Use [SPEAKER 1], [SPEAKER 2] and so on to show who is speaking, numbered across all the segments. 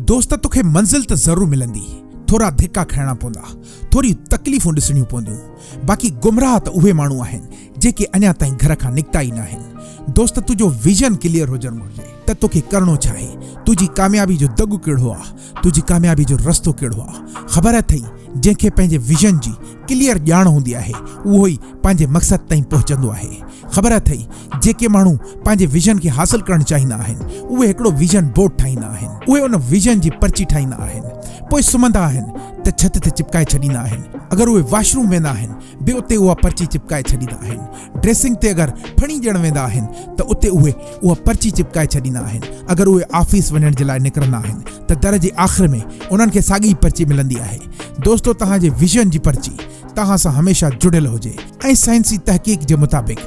[SPEAKER 1] دوست توکي منزل ته ضرور ملندي، ٿورا ڌڪا کائڻا پوندا، ٿوريون تڪليفون ڏسڻيون پونديون، باقي گمراهه ته اهي ماڻهو آهن جيڪي اڃا تائين گهر کان نڪتا ئي ناهن. دوست تنهنجو ويزن ڪليئر هجڻ گهرجي ته توکي ڪرڻو ڇا آهي، تنهنجي ڪاميابي جو دڳ ڪهڙو آ، تنهنجي ڪاميابي جو رستو ڪهڙو آ. خبر اٿئي جنهن کي پنهنجي ويزن جي ڪليئر ڄاڻ هوندي آهي اهو ئي پنهنجي مقصد تائين پهچندو آهي. خبر اٿئي جيڪي ماڻهو پنهنجي ويزن کي حاصل ڪرڻ چاهيندا آهن اهي هڪڙو ويزن بورڊ ٺاهيندا آهن اهي ان ويزن جي پرچي ٺاهيندا آهن پوء سمهندا آهن ته ڇت تي چپڪائي ڇڏيندا آهن اگر اهي واش روم ويندا آهن به اتي اها پرچي چپڪائي ڇڏيندا آهن ڊريسنگ تي اگر ڦڻي ڏيڻ ويندا آهن ته اتي اهي اها پرچي چپڪائي ڇڏيندا آهن اگر اهي آفيس وڃڻ جي لاء نڪرندا آهن ته در جي آخر ۾ انهن کي ساڳي ئي پرچي ملندي آهي دوستو توهان جي ويزن جي پرچي توهان سان هميشه جڙيل هجي ۽ سائنسي تحقيق جي مطابق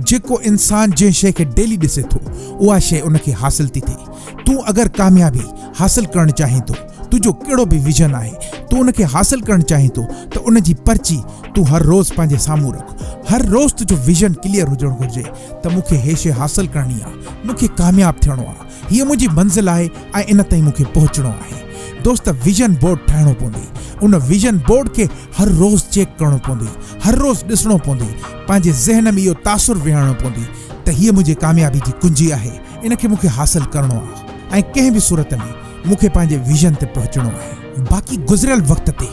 [SPEAKER 1] جيڪو انسان جنهن شيء کي ڊيلي ڏسي ٿو اها شيء ان کي حاصل ٿي ٿئي تون اگر ڪاميابي حاصل ڪرڻ چاهين ٿو تنهنجو ڪهڙو به ويزن آهي تون ان کي حاصل ڪرڻ چاهين ٿو ته ان جي پرچي تون هر روز پنهنجي سامهون رک هر روز تنهنجو ويزن ڪليئر هجڻ گهرجي ته مون کي هي شيء حاصل ڪرڻي آهي مون کي ڪامياب ٿيڻو آهي هيء منهنجي منزل آهي ۽ ان تائين مون کي پهچڻو آهي. دوست ويزن بورڊ ٺاهڻو پوندي. ان ويزن بورڊ کي هر روز چيڪ ڪرڻو پوندي. هر روز ڏسڻو پوندي. پنهنجي ذهن ۾ اهو تاثر ويهارڻو پوندي ته هيء منهنجي ڪاميابي جي ڪنجي آهي. ان کي مون کي حاصل ڪرڻو آهي ۽ ڪنهن به صورت ۾ مون کي پنهنجي ويزن تي پهچڻو آهي. باقي گذريل وقت تي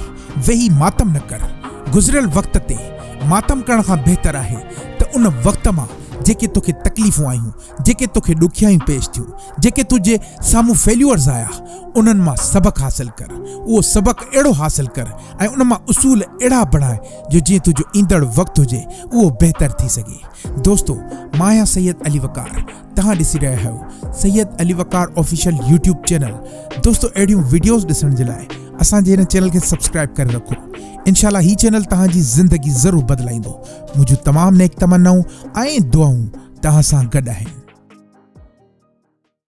[SPEAKER 1] ويهي ماتم نه ڪر. گذريل وقت تي ماتم ڪرڻ کان بهتر آهي ته ان وقت مان جيڪي توکي تڪليفون آيون، جيڪي توکي ڏکيائيون پيش ٿيون، جيڪي تنهنجي سامهون فيليورز آيا، انهن مان سبق حاصل ڪر. اهو سبق اهڙو حاصل ڪر ۽ ان مان اصول اهڙا بڻاء جو جيئن تنهنجو ايندڙ وقت هجي اهو بهتر ٿي سگهي. دوستو مان آهيان سيد علي وقار توهان ڏسي رهيا آهيو Syed Ali Waqar official YouTube channel دوستو اهڙيون وڊيوز ڏسڻ جي لاء اسان جي هن چينل کي سبسڪرائب ڪري رکو انشاء الله هي چينل توهان جي زندگي ضرور بدلائيندو. منهنجون تمام نيڪ تمنائون ۽ دعائون توهان سان گڏ آهن.